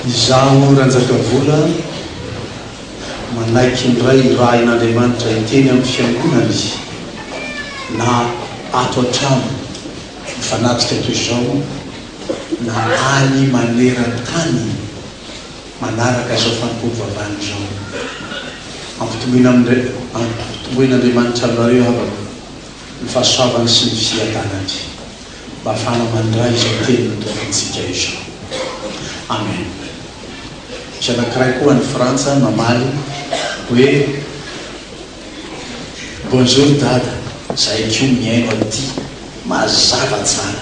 Izaho Ranjakavola manaiky indray hirahin'Andriamanitra hiteny amin'ny Fiangonany na ato an-trano mifanatrika toy izao na any maneran-tany manaraka izao fanompoam-bavahana izao. Ampitomboina Ampitomboin'Andriamanitra aminareo havako ny fahasoavany sy ny fiadanany. mba fana mandray izao teny notokantsika izao. Amen. Misy anankiray koa any Frantsa mamaly hoe, Bonjour Dada, zahay koa mihaino aty mazava tsara.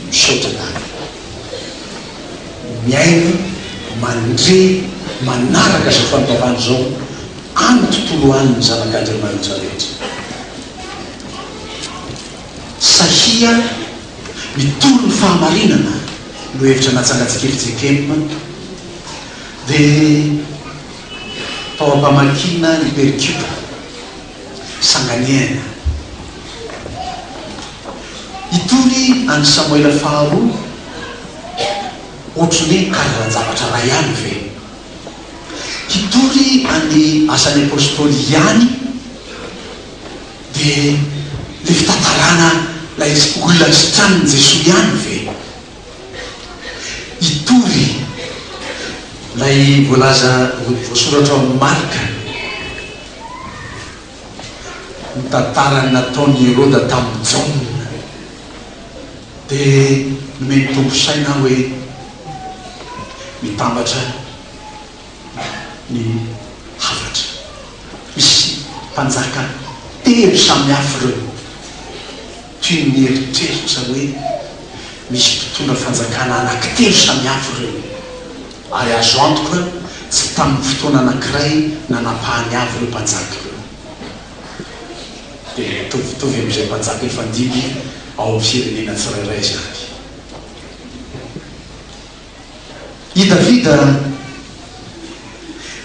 Misaotra Dada. Mihaino mandre manaraka izao fanokafana izao any tontolo any ny zanak'Andriamanitra rehetra. Sahia mitory ny fahamarinana no hevitra natsangantsika eto JKM dia tao am-pamakiana ny Pericube, Sanganehana. Hitory an'i Samoela faharoa ohatry ny hoe karazan-javatra iray ihany ve? Hitory an'i Asan'ny Apostoly ihany? Dia ny fitantarana ilay olona sitranin'i Jesoa ihany ve? Hitory ilay voalaza, voasoratra ao amin'ny Marka, ny tantaran'ny nataon'i Heroda tamin'i Jaona. Dia nomeny tongosaina aho hoe, mitambatra. ny hafatra. Misy mpanjaka telo samihafa ireo, toy ny eritreritra hoe misy mpitondra fanjakana anankitelo samihafa ireo, ary azo antoka tsy tamin'ny fotoana anankiray nanapahany avy ireo mpanjaka ireo, dia mitovitovy amin'izay mpanjaka efa nidimby ao amin'ny firenena tsirairay izany. I Davida,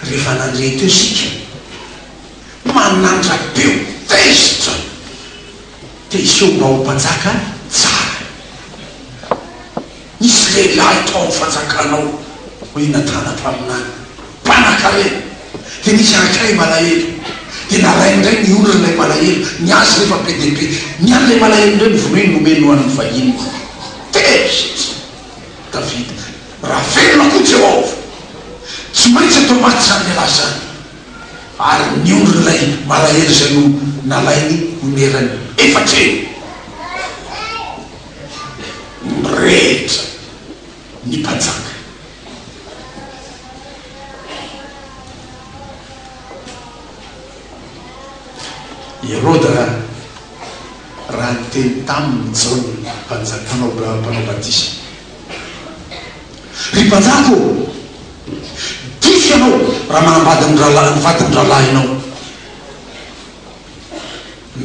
Rehefa nandre teo isika, manandrape ho tezitra te hiseho mba ho mpanjaka tsara. Nisy lehilahy tao amin'ny fanjakana ao hoe Natana mpaminany, mpanankarena. Dia nisy anankiray malahelo. Dia nalainy indray ny olona ilay malahelo, ny azy nefa be dia be. Ny an'ilay malahelo indray novonoiny nomeny ho an'ny vahiny. Tezitra! Davida. Raha velona koa Jehovah, tsy maintsy atao maty izany lehilahy izany. Ary nionona ilay malahelo izay no nalainy ho nerany efatra eo. Mirehitra ny mpanjaka. Heroda. raha niteny taminy i Jaona Mpanjaka, mpanao, mpanao batisa, Ry Mpanjaka ô, dify ianao raha manambady ny rahalahy, ny vadin'ny rahalahinao.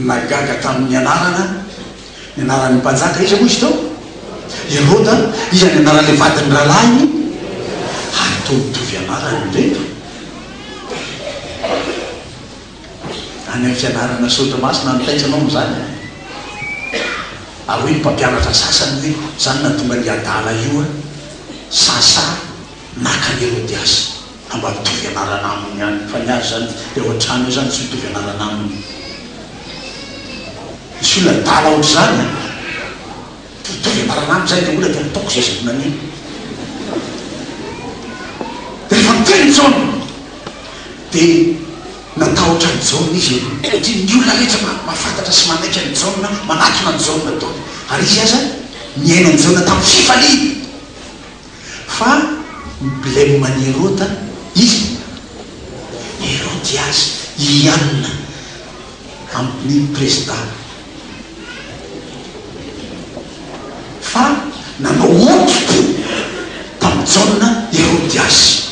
Nagaga tamin'ny anarana, ny anaran'ny Mpanjaka, iza moa izy teo? Heroda, iza ny anaran'ilay vadin'ny rahalahiny? Ary toa mitovy anarana indray. Any amin'ny fianarana soratra masina no taitra anao amin'izany an! Ary hoy ny mpampianatra sasany hoe, Izany nahatonga an'io adala io an! Sasa naka an'i Herodiasy. Ka mba mitovy anarana aminy ihany. Fa ny azy izany dia ao an-trano eo izany tsy mitovy anarana aminy. Misy olona adala ohatr'izany an! Tohitovy am-paranandro izay ilay olona dia nataoko izay azoko naneno. Rehefa niteny i Jaona dia natahotra an'i Jaona izy aloha satria ny olona rehetra mahafantatra sy manaiky an'i Jaona, manatona an'i Jaona daholo. Ary izy aza nihaino an'i Jaona tamin'ny fifaliana. Fa ny blem an'i Herota izy Herodiasy hianina amin'ny prezidana fa nanao hodipo tamin'i Jaona Herodiasy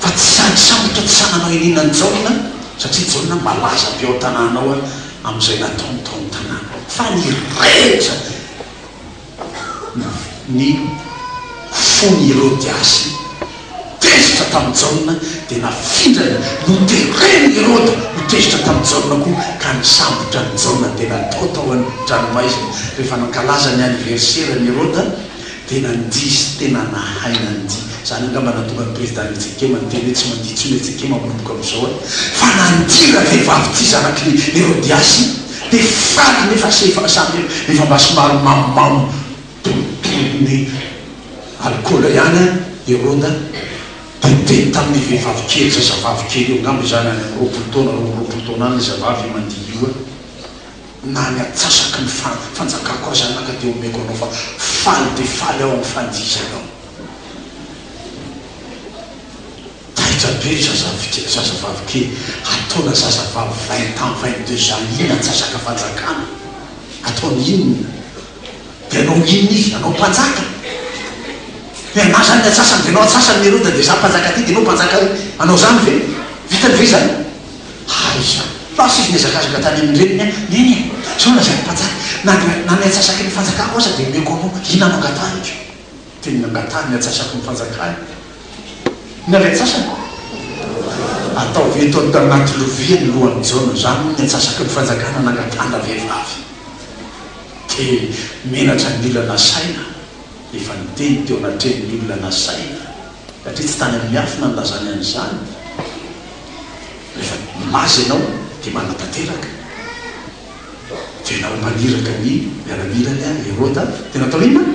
fa tsy sahy nisambotra tsy sahy nanao iniana an'i Jaona satria Jaona malaza be ao an-tanàna ao amin'izay nataony tao amin'ny tanàna fa ny rehetra Ny fon'ireo Gasy tezitra tamin'i Jaona dia nafindrany, noteren'i Heroda ho tezitra tamin'i Jaona koa, ka nisambotra an'i Jaona dia natao tao an-dranomaizina. Rehefa nankalaza ny aniverseran'i Heroda dia nandihy sy tena nahay nandihy. Izany angamba nahatonga ny Prezidà Nitsekema niteny hoe tsy mandihy intsony Nitsekema manomboka amin'izao an! Fa nandihy ravehivavy tia zanak'i Herodiasy Dia faly nefa sy efa samy efa mba somary mamomamo tonotonon'ny alikaola ihany an i Rhoda dia niteny tamin'ny vehivavy kely, zazavavy kely eo angamba izany any amin'ny roapolo taona, roa amby roapolo taona any iza vavy mandihy io an! Na ny atsasaky ny fa fanjakako aza anaka dia omeko anao fa faly dia faly aho amin'ny fandihizanao. Taitra be zazavike, zazavavy kely ataona zazavavy vingt ans vingt deux ans iny antsasaka fanjakana ataony inona de anao inona izy anao mpanjaka de anazany ny antsasany de anao antsasany leroa de za mpanjaka ty de enao mpanjaka ary anao zany ve vitany ve zany aiza lasa izy niazakazaka tany amin reniny a neny e zao lazaiko mpanjaka na ny antsasaky ny fanjakako aza de omeko anao inona no angatahiko. Dia nangatahany ny atsasako ny fanjakany. Ny avy atsasany? Ataovy eto anaty lovia ny lohan'i Jaona. Izany moa ny atsasaky ny fanjakana nangatahana vehivavy. Dia menatra ny olona nasaina. Efa niteny teo anatrehan'ny olona nasaina, satria tsy tany amin'ny miafina nilazany an'izany. Rehefa milaza ianao dia manatanteraka. Dia nao maniraka ny miaramilany an Heroda dia natao inona?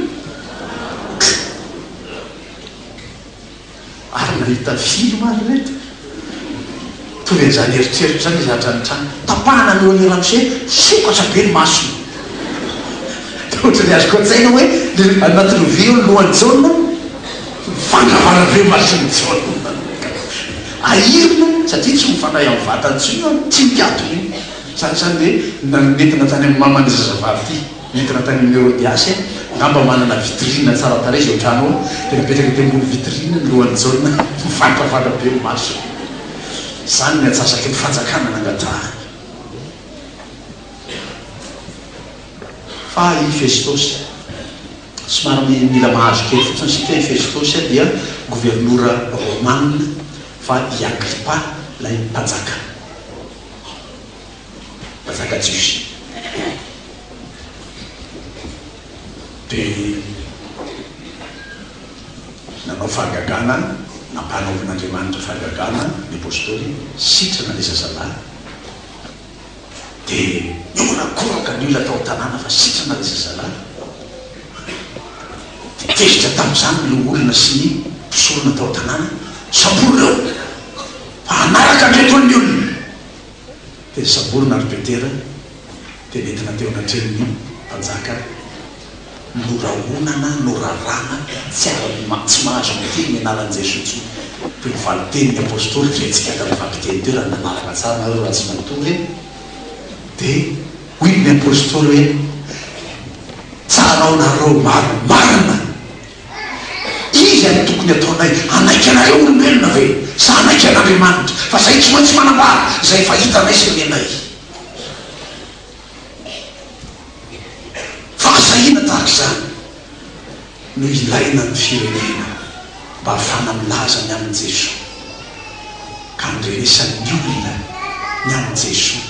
Ary nahita film ary ireto. Mitovy an'izany eritreritra izany izy hatrany hatrany. Tapahana ny lohan'i Ramsey, sokatra be ny masony. Dia ohatran'ny azoko an-tsaina hoe le anaty lovia eo ny lohan'i Jaona, mivandravandra be ny mason'i Jaona. Ahirina satria tsy ho fanahy amin'ny vatany intsony io an, tsy mpiato io. Izany izany ve no nentina tany amin'ny maman'ity zazavavy ity? Nentina tany amin'i Herodiasy e! Angamba manana vitrine tsara tarehy izao trano ao, dia napetraka teo ambony vitrine ny lohan'i Jaona mivadravadrava be ny masony. Izany ny atsasaky ny fanjakana nangatahany. Fa i Festosy, somary mila mahazo kely fotsiny isika, i Festosy dia governora romana, fa i Agripa ilay mpanjaka. mpanjaka jiosy dia nanao fahagagana nampanaovin'Andriamanitra fahagagana ny apostoly sitrana le zazalahy dia nihorakoraka ny olona tao an-tanàna fa sitrana le zazalahy dia tezitra tamin'izany ny loholona sy ny mpisorona tao an-tanàna samborina Fa hanaraka ny entol'ny olona. Dia samborina ary Petera dia nentina teo anatrehan'ny mpanjaka norahonana, norarana, tsy ara-, tsy mahazo miteny ny anaran'i Jesoa intsony. Dia ho valin-teny ny apostoly, ry antsika avy amin'ny fampiteny teo, raha nanaraka tsara nareo raha tsy manontolo hoe, dia hoy ny apostoly hoe, tsarao nareo maro marina. Iza no tokony hataonay hanaiky anareo olombelona ve sa hanaiky an'Andriamanitra? Fa zahay tsy maintsy manambara izay efa hitanay sy renay. Fahasahina tahaka izany no ilaina ny firenena mba hahafahana milaza ny amin'i Jesoa ka handrenesan'ny olona ny amin'i Jesoa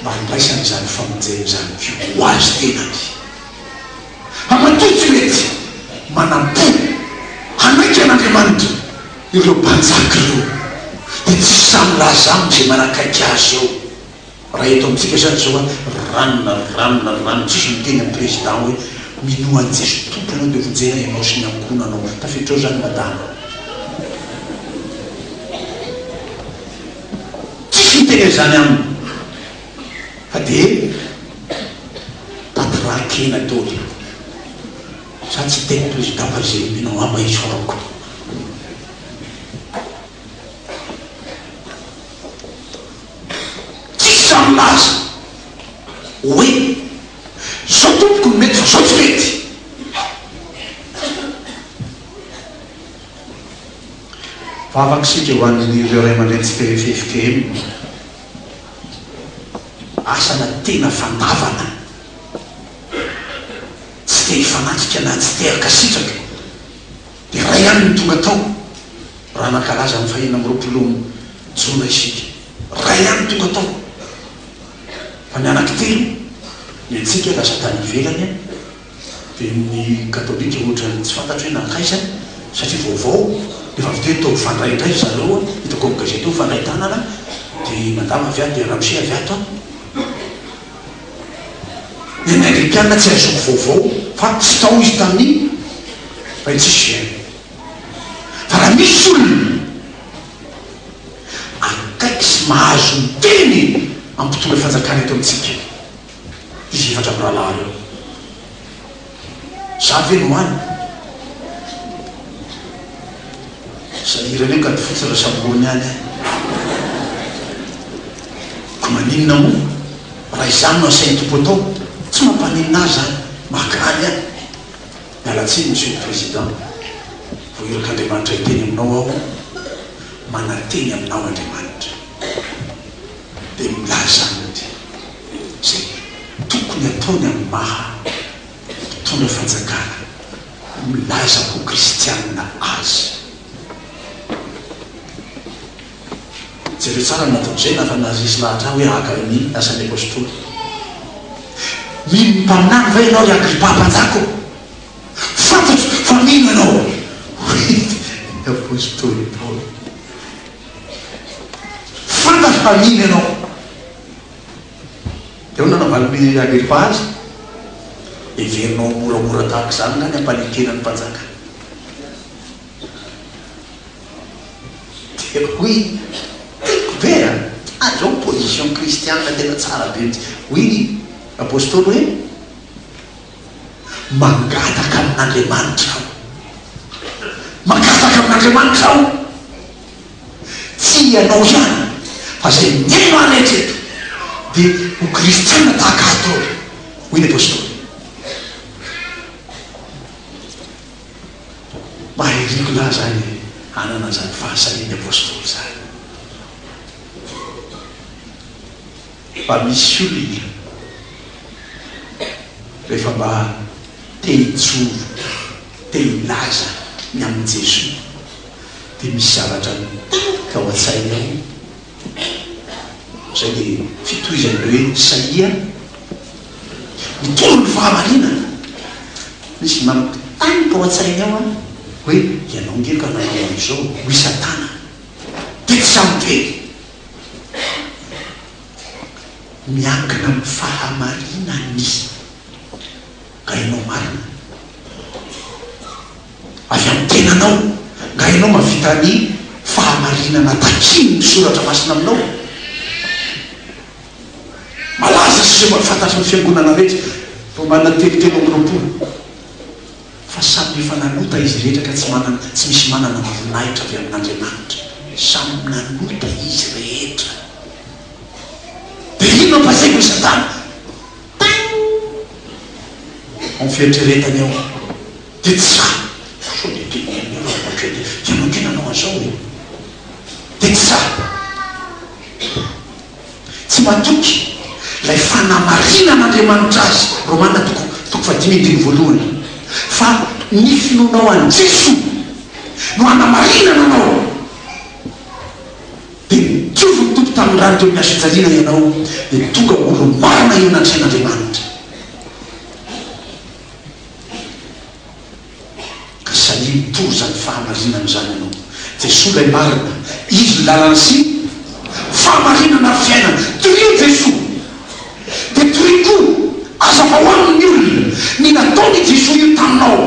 mba handraisany izany famonjena izany koa ho azy tenany. Amatoa tsy mety manam-po hanaiky an'Andriamanitra ireo mpanjaka ireo, dia tsy sahy milaza aminy izay manakaiky azy eo. Raha eto amintsika izany izao hoe ranona ry ranona ry ranona, tsisy miteny amin'ny président hoe minoa an'i Jesoa Tompo ianao dia vonjena ianao sy ny ankohonanao. Tafiditra ao izany madama. Tsisy miteny an'izany aminy. Fa dia tantiraha kena tory sa tsy tena président Barzilay no angamba isaorako. Tsisy za milaza hoe zao tompoko no mety fa zao tsy mety. Vavaka isika ho an'ireo ray aman-dreny tsy te FFKM. Asana tena fandavana tsy te hifanatrika na tsy te hankasitraka dia iray ihany no tonga tao raha nankalaza ny fahenina amby roapolo jona isika. Iray ihany no tonga tao fa ny anankitelo ny antsika lasa tany ivelany. dia ny katolika ohatran'ny tsy fantatro hoe nankaiza satria vaovao dia efa avy teo hitao mifandray indray ry zareo an, hitako amin'ny gazety eo mifandray tanana dia madama avy ato dia ramose avy ato an, dia ny anglikanina tsy azoko vaovao fa tsy tao izy tamin'iny fa iny tsisy gene fa raha misy olona akaiky sy mahazo miteny amin'ny mpitondra fanjakana eto amintsika izy efatra mirahalahy ireo. Zary ve no any? Izay hira ilay kady fotsy raha samy loha ny any eh. Ka maninona moa raha izany no asain'ny Tompo atao? Tsy mampaninona ahy izany, mahagaga ahy. Miala tsiny Monsieur le Président, vao irak'Andriamanitra hiteny aminao aho, mananteny aminao Andriamanitra. dia milaza mody izay tokony ataony amin'ny maha mpitondra fanjakana milaza ho kristianina azy. Jereo tsara ny nataon'izay na fa naharesy lahatra ahy hoe haka ny asan'ny apostoly. Mino mpaminany va ianao ry Agripa mpanjaka ô? Fantatro fa mino ianao, hoy ny apostoly Paoly. Fantatro fa mino ianao. Dia hoy ny nanaovan'i Agripa azy, Heverinao ho moramora tahaka izany angaha ny hampanekena ny mpanjaka? Dia hoy i, Tiako be a! Ary izao position kristianina tena tsara be mihitsy. Hoy ny apostoly hoe. Mangataka amin'Andriamanitra aho. Mangataka amin'Andriamanitra aho. Tsy ianao ihany fa izay mihaino ahy rehetra eto dia ho kristiana tahaka ahy daholo, hoy ny apostoly. Mahiriko lahy izany hanana an'izany fahasarian'ny apostoly izany. Fa misy olona rehefa mba te hijoro, te hilaza ny amin'i Jesoa dia misy zavatra mitarika ao an-tsainy ao izay dia fitohizan'ireo hoe Isaia mitondra ny fahamarinana, misy mampitarika ao an-tsainy ao hoe ianao nge ka nanao an'izao, hoy Satana, dia tsy ampy eny. Miankina amin'ny fahamarinan'ny Nga ianao marina? Avy amin'ny tenanao? Nga ianao mahavita ny fahamarinana takian'ny Soratra Masina aminao? Malaza sy fantatry ny Fiangonana rehetra, Romana telo telo amby roapolo. Fa samy efa nanota izy rehetra ka tsy manana, tsy misy manana ny voninahitra avy amin'Andriamanitra. Samy nanota izy rehetra. Dia inona fa izay no Satana? Taing! Ao fieritreretany ao. Dia tsy raha. Sao dia tena ianao raha manao hatreto e? Ianao kay nanao an'izao e? Dia tsy raha. Tsy matoky ilay fanamarinana Andriamanitra azy, Romana toko toko fahadimy andininy voalohany, fa ny finoanao an'i Jesoa no hanamarinana anao. Dia nijoro ny Tompo tamin'ny rany teo amin'ny hazofijaliana ianao, dia tonga olo-marina eo anatrehan'Andriamanitra. Ka sahia mitory izany fahamarinana izany ianao. Jesoa ilay marina, Izy ny lalana sy ny. Fahamarinana ary fiainana. Torio Jesoa. Dia torio koa, azavao amin' ny olona, ny nataon' i Jesoa io taminao.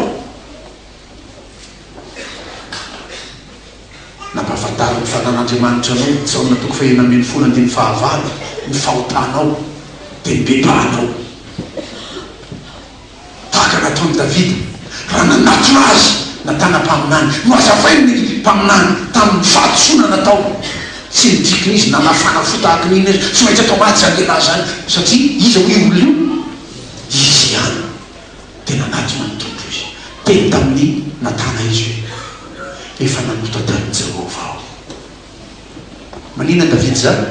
Ka nampahafantarin' ny Fanahin' Andriamanitra anao, Jaona toko fahenina ambin'ny folo andininy fahavalo, ny fahotanao. Dia nibebahanao. Tahaka nataon'i Davida, raha nanatona azy na tanam-paminany, nohazavainy ny mpaminany tamin'ny fahadisoana nataony. Tsy nidikina izy nanafana fo tahaka ny inona izy. Tsy maintsy atao maty izany lehilahy izany, satria iza hoy io olona io? Izy ihany dia nanatona ny Tompo izy. Teny tamin'i Natana izy hoe, Efa nanota tamin'i Jehovah aho. Maninona Davida izany?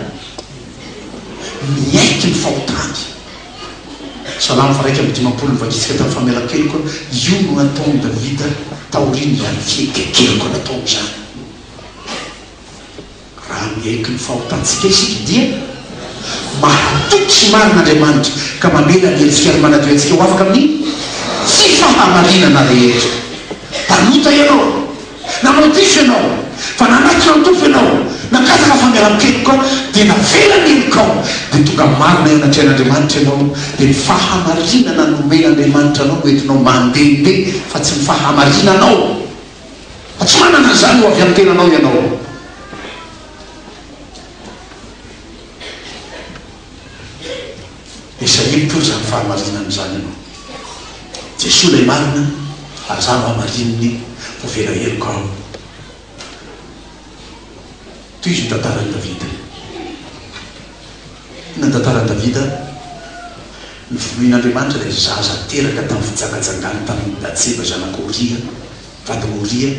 Niaiky ny fahotany. Salamo varaika amby dimampolo Nivakitsika tamin'ny famelan-keloka aho, io no nataon'i Davida taorian'izany fihetsik'heloka nataony izany. Raha miaiky ny fahotantsika isika dia mahatoky sy marina Andriamanitra ka mamela ny hetsika ary manadio antsika ho afaka amin'ny tsy fahamarinana rehetra. Mpanota ianao? Nanao diso ianao, fa nanaitra an-tofo ianao, nangataka fangalan-keloka, dia navela ny helokao, dia tonga marina eo anatrehan'Andriamanitra ianao, dia ny fahamarinana nomen'Andriamanitra anao no entinao mandehandeha, fa tsy ny fahamarinanao, fa tsy manana an'izany ho avy amin'ny tenanao ianao. Dia sahiriko koa izany fahamarinana izany ianao. Jesoa ilay marina ary za mba marininy ho velaheloko ao. Tohizo ny tantaran'i Davida. Inona ny tantaran'i Davida? Novonoin'Andriamanitra ilay zaza teraka tamin'ny fijangajangany tamin'i Batseba zanak'i Oria, vadin'i Oria.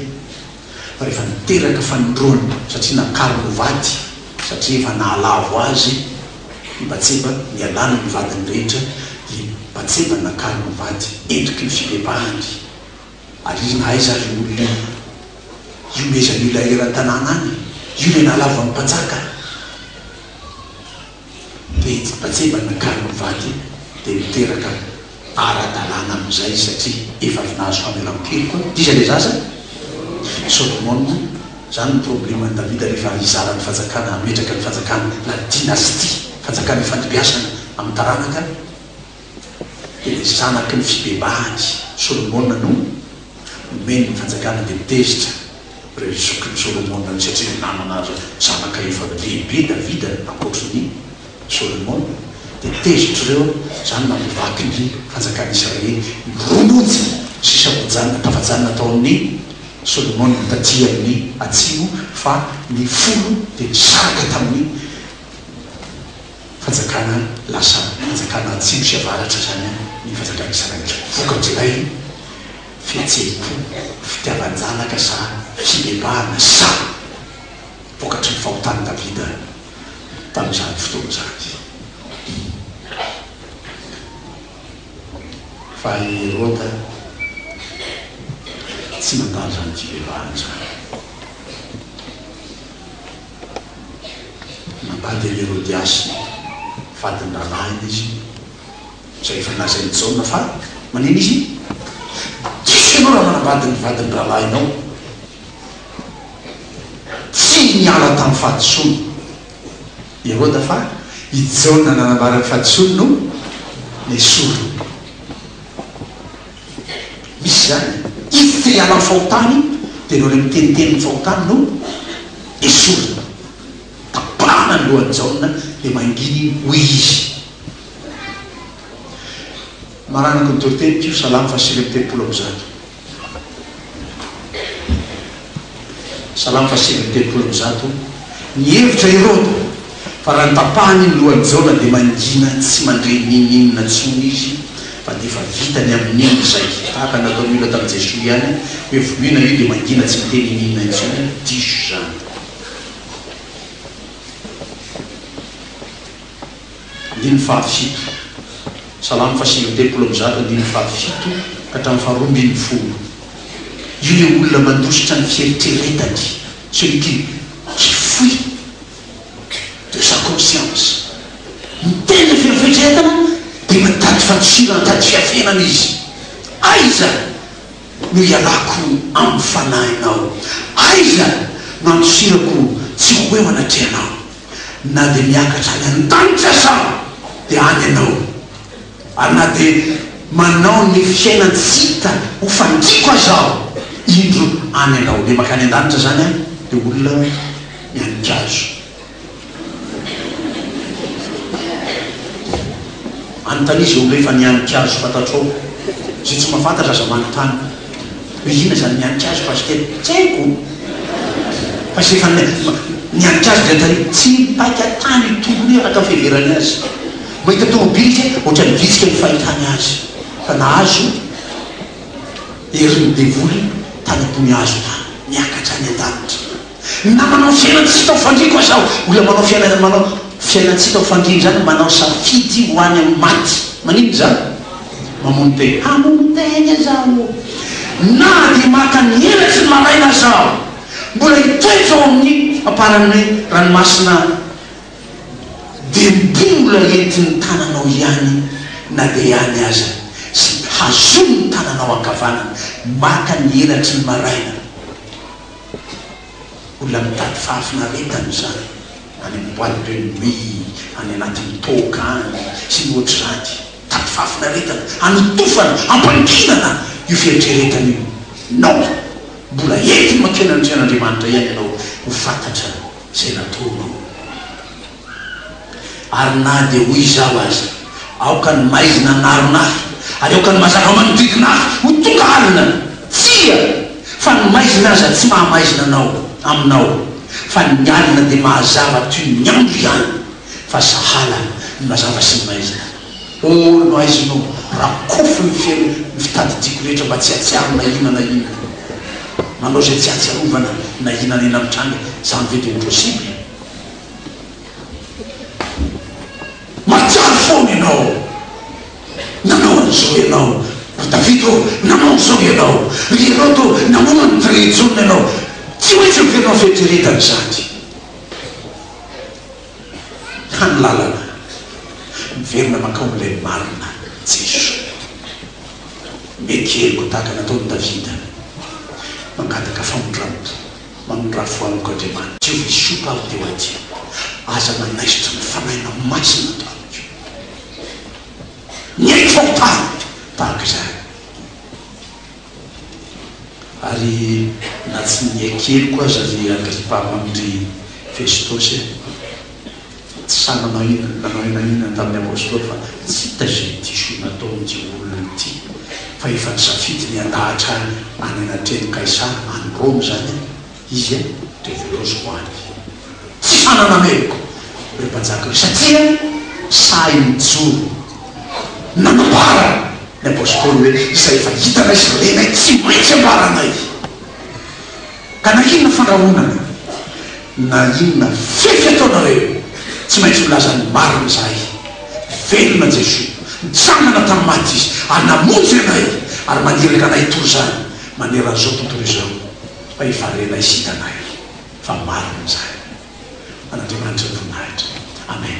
rehefa niteraka fanindroany satria nakariny ho vady satria efa nahalavo azy i Batseba nialany amin'ny vadiny rehetra i Batseba nakariny ho vady endriky ny fibebahany ary izy nahay zary io olona io hiomezan'io ilay eran-tanàna any io ilay nahalavo an'i Mpanjaka Nijibajeba nankany ny vady dia niteraka ara-dalàna amin'izay satria efa avy nahazo famelan-keloka koa izy ilay zaza, Solomona, izany ny probleman'i Davida rehefa hizara ny fanjakana, hametraka ny fanjakana, la dynastie, fanjakana ifandimbiasana amin'ny taranaka. Hery zanaky ny fibebahany Solomona no nomeny ny fanjakana dia tezitra ireo zokiny Solomona satria nanana zanaka efa lehibe Davida ankoatry ny Solomona dia tezitra ireo izany namaky ny fanjakany Israely ny roa monja sy sabojanina tafajanona tao amin' ny Solomona taty amin' ny atsimo fa ny folo dia nisaraka tamin' ny Fanjakana lasa fanjakana atsimo sy avaratra izany ny fanjakan'i Israely. Vokatr'ilay fihetseham-po, fitiavan-janaka sa fibebahana sa vokatry ny fahotan'i Davida tamin'izany fotoana izany? Fa i Heroda tsy nandalo izany fibebahana izany. Nambady an'i Herodiasy vadin-drahalahiny izy, izay efa nolazain'i Jaona fa manina izy, Diso ianao raha manambady ny vadin-drahalahinao. Tsy niala tamin'ny fahadisoany i Heroda fa i Jaona nanambara ny fahadisoany no nesoriny. Misy izany. Io filialy amin'ny fahotana io dia ireo ilay miteniteny ny fahotany no esorina. Tapahana ny lohan'i Jaona dia mangina iny. Hoy izy, Maranako ny toroteny, Mpio, Salamo fahasivy amby telopolo amby zato. Salamo faha sivy amby telopolo amby zato Nihevitra Heroda fa raha notapahany ny lohan'i Jona dia mangina tsy mandre n'inon'inona intsony izy fa dia efa vitany amin'iny izay, tahaka ny nataon'ny olona tamin'i Jesoa ihany hoe vonoina io dia mangina tsy miteny inon'inona intsony, diso izany. andininy fahafito. Salamo fahasivy amby telopolo amby zato andininy fahafito ka hatramin'ny faharoa ambin'ny folo. Io ilay olona mandositra ny fieritreretany, celui qui qui fuit de sa conscience. Miteny avy amin'ny fieritreretana dia mitady fandosirana, mitady fiafenana izy. Aiza no ialako amin'ny fanahinao? Aiza no andosirako tsy ho eo anatrehanao? Na dia miakatra any an-danitra aza aho dia any ianao, ary na dia manao ny fiainan-tsy hita ho fandriako aza aho, indro any ianao. Dia mankany an-danitra izany aho, dia olona miankin-kazo. Anontania izay olona efa nianin-kazo fantatrao. Izay tsy mahafantatra aza manontany. Hoe inona izany mianika azy pasitera? Tsy haiko fa izay efa nianika azy dia tarehy. Tsy mipaika tany io tongony io araka ny fiheverany azy. Mahita tomobily izy hoe ohatran'ny vitsika ny fahitany azy fa nahazo herin'ny devoly tany am-pony hazo tany, miakatra any an-danitra. Na manao fiainantsika ho fandriako aza aho, olona manao fiainana manao fiainantsika ho fandriany izany manao safidy ho any amin'ny maty. Maninona izany? Mamono tena. Hamono tena aza aho, na dia maka ny helaky ny maraina aza aho, mbola hitoetra ao amin'ny amparan'ny ranomasina aho, dia mbola entin'ny tananao ihany na dia ihany aza, sy hazon'ny tananao ankavanana maka ny helaky ny maraina. Olona mitady fahafinaretana izany any amin'ny boite de nuit, any anatin'ny toaka any sy ny ohatr'izany. Mitady fahafinaretana, hanotofana, hampanginana io fieritreretana io. Non! Mbola entiny mankeny amin'ny Tenin'Andriamanitra ihany ianao ho fantatra izay nataonao. Ary na dia hoy izaho aza, Aoka ny maizina hanarona ahy, ary aoka ny mazava manodidina ahy ho tonga alina! Tsia! Fa ny maizina aza tsy maha-maizina anao, aminao, fa ny alina dia mahazava toy ny andro ihany, fa sahala ny mazava sy ny maizina. Oh, nohaiziny oh, rakofy ny feno ny fitadidiako rehetra mba tsy hahatsiaro na inona na inona. Manao izay tsy hahatsiarovana na inona na inona mitranga, izany ve dia ho possible? Mahatsiaro foana ianao. Nanao an'izao ianao. Ry Davida ô, nanao an'izao ianao. Ry Herode ô, namono an'i Drejona ianao. Tsy maintsy heverinao fieritreretana izany. Ka ny lalana, miverina mankao amin'ilay marina, Jeso. Miekeliko tahaka nataon'i Davida, mangataka famindram-po. Mamindrafo anoko Andriamanitra. Tsy ho hisoka aho teo an-tseniko. Aza manaisotra ny Fanahinao Masina ato amiko. Mihaino fahotana tahaka izany. Ary na tsy niha keliko aza ry Agripa Andry Festosy e. Tsy sahy nahina ny Ray nahinany tamin'ny Apostoly fa tsy hita izay diso nataon'ity olona ity fa efa nisafidy ny handahatra ahy any anatrehan'i Kaisara, any Roma izany aho, izy a, dia voraoziko any. Tsy fananana heloka ireo mpanjaka ireo satria sahy nijoro nanambara ny Apostoly hoe izay efa hitanay sy renay tsy maintsy ambaranay. Ka na inona fandrahonana na inona fefy ataonareo tsy maintsy milaza ny marina izahay, velona Jesoa, nitsangana tamin'ny maty Izy ary namonjy anay ary maniraka anay toy izany maneran'izao tontolo izao fa hivarenay sy hitanay fa marina izany. An'Andriamanitra ny voninahitra. Amen.